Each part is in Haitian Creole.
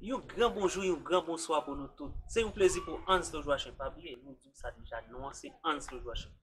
Yon gran bonjou, yon gran bonswa pou nou tout. Se yon plezi pou Anslo Jwachen. Pa bliye, nou di w sa deja, non an se Anslo Jwachen.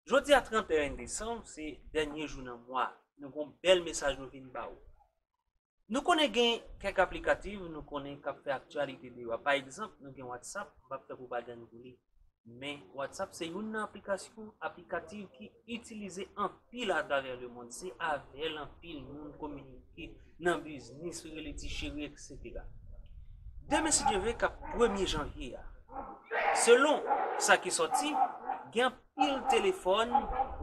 Jodi a 31 desanm, se dènye jou nan mwa a. Nou gen yon bèl mesaj nou vin ba ou. Nou konnen gen kèk aplikativ nou konnen k ap fè aktyalite deyò a. Pa egzanp, nou gen Whatsapp, m p ap fè pwopagann pou li. Men, WhatsApp se youn nan aplikasyon, aplikativ ki itilize anpil atravè le mond. Se avè l anpil moun kominike nan biznis, yo rele ti cheri, eksetera. Demen si Dye vle kap premye janvye a. Selon sa ki sòti, gen anpil telefòn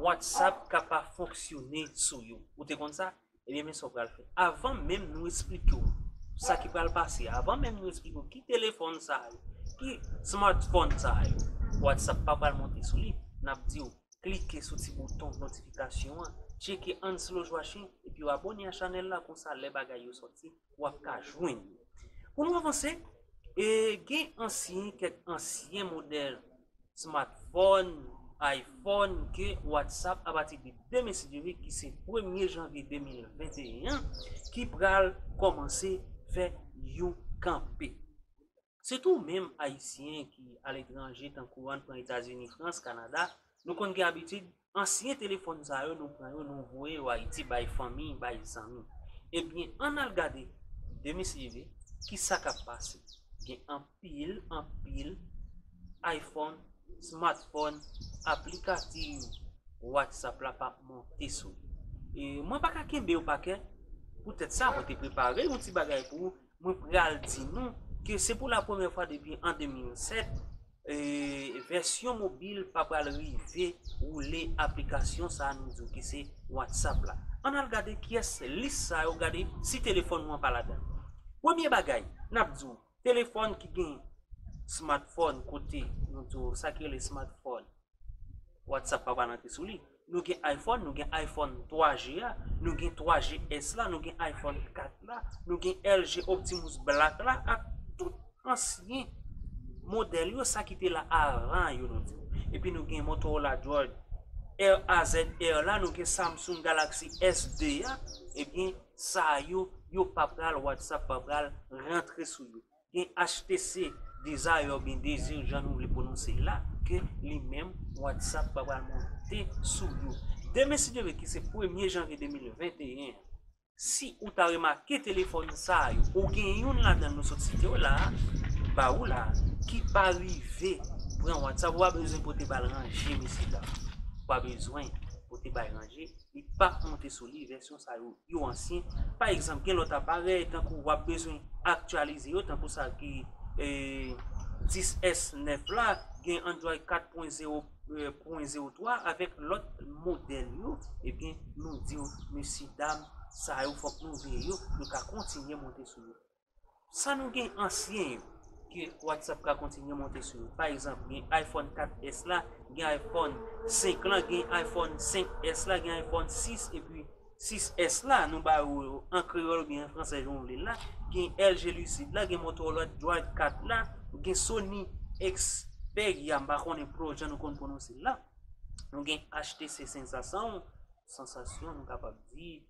WhatsApp ka pa fonksyone sou yo. Ou te konn sa? Ebyen men sa w pral fè. Avan menm nou esplike w sa ki pral pase, avan menm nou esplike w ki telefòn sa yo, ki smartphone sa yo, WhatsApp pa pral monte sou li. N ap di w klike sou ti bouton notifikasyon an, tcheke Anselojwashe epi w abone a chanèl la konsa lè bagay yo sòti w ap ka jwenn yo. Pou nou avanse, gen ansyen, kèk ansyen modèl Smatfòn, iPhone, ke WhatsApp apati de 2 me si Dye vle ki se premye janvye 2021 an ki pral kòmanse fè yon kanpe. Sitou menm Ayisyen ki aletranje tankou ann pran Etazini, Frans, Kanada, nou konn gen abitid Ansyen telefòn sa yo nou pran yo nou voye yo Ayiti bay fanmi, bay zanmi. Ebyen ann al gade demislive ki sa k ap pase. Gen anpil, anpil ayfòn, smatfòn, aplikativ Whatsapp la pa monte sou li. Mwen pa ka kenbe yo pa kè. Poutèt sa mwen te prepare yon ti bagay pou ou Mwen pral di nou ke se pou la premye fwa depi an 2007, vèsyon mobil pa pral rive woule aplikasyon sa nou di w ki se WhatsApp la. Ann al gade kiyès lis sa yo gade si telefòn nou an pa ladan. Premye bagay, n ap di w, telefòn ki gen smartphone kote nou di w sa ki rele smartphone. Whatsapp pa pral antre sou li. Nou gen iPhone, nou gen iPhone 3G a, nou gen 3G S la, nou gen iPhone 4 la, nou gen LG Optimus Black la ak tout ansyen modèl yo sa ki te la avan yo nou di. Epi nou gen Motorola Droid RAZR la, nou gen Samsung Galaxy S2 a, ebyen sa yo yo pa pral Whatsapp pa pral rantre sou yo. E HTC Desire ou byen Desir jan nou vle pwononse l la ke li menm Whatsapp pa pral monte sou yo. Demen sitere ki se premye janvye 2021 an, si ou ta remake telefòn sa yo ou gen youn ladan l nou sot site yo la a, ba ou la a, ki pa rive pran Whatsapp ou pa bezwen pote ba l ranje mesye dam. Ou pa bezwen pote ba l ranje. Li pap monte sou li, vèsyon sa yo, yo ansyen. Pa egzanp, gen lòt aparèy tankou w ap bezwen aktyalize yo, tankou sa ki 10S 9 la, gen Android 4 pwen 0 pwen 0 3 avèk lòt modèl yo, ebyen nou di yo, mesye dam, sa yo fòk nou veye yo, yo ka kontinye monte sou yo. San nou gen ansyen yo ke WhatsApp ka kontinye monte sou yo. Pa egzanp, gen iPhone 4S la, gen iPhone 5 lan, gen iPhone 5S la, gen iPhone 6 epi 6S la, nou ba ou yo an kreyòl oubyen an fransè jan ou vle l la, gen LG Lucid la, gen Motorola Droid 4 la, gen Sony Xperia, m pa konnen pou lòt jan nou konn pwononse l la, nou gen HTC Sensasyon, Sensation nou kapab di,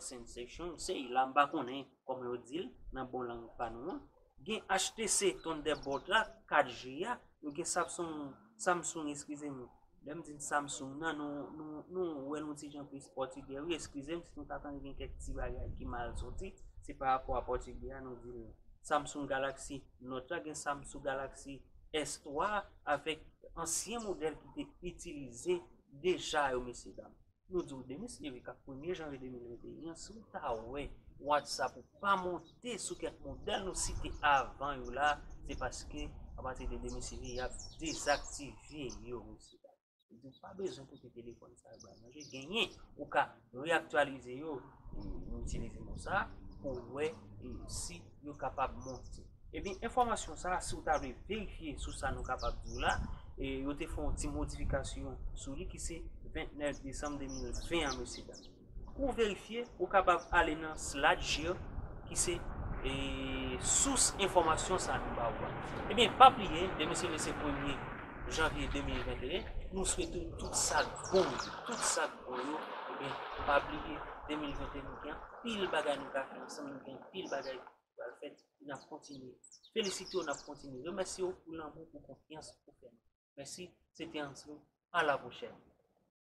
Sensation, se la m pa konnen. Kòm yo di l nan bon lang pa nou an, gen HTC Thunderbolt la 4 G a, nou gen Sapsong, Samsung eskize m, lè m di n Samsung nan nou wè l on ti jan plis pòtigè wi eskize m si nou ta tande gen kèk ti bagay ki mal soti se pa rapò a pòtigè a nou di l Samsung Galaxy Note la gen Samsung Galaxy S 3 avèk ansyen modèl ki te itilize deja yo mesye dam. Yo di w Denis Eric ak premye janvye 2021 an, si w ta wè whatsapp ou pa monte sou kèk modèl nou site avan yo la, se paske apati de 2021 y ap dezaktive yo mesye dam. Yo di w pa bezwen pote telefòn sa yo bay manje, genyen ou ka reaktyalize yo, m itilize mo sa, pou w wè si. nou kapab monte. Ebyen enfòmasyon sa a si ou ta vle verifye sou sa nou kapab di w la, yo te fè yon ti modifikasyon sou li ki se 29 desanm 2020 an mesye dam. Pou w verifye ou kapab ale nan Slide-Share ki se sous enfòmasyon sa a nou ba ou a. Ebyen pa bliye demen se le se premye janvye 2021, nou swete w tout sa k bon yo, tout sa k bon yo, ebyen pa bliye 2021 nou gen anpil bagay nou ka fè ansanm. Anpil bagay ki pral fèt e nap kontinye felisite w, nap kontinye remèsye w pou lanmou, pou konfyans ou fè nou. Mèsi, se te Anslo, a la pwochèn!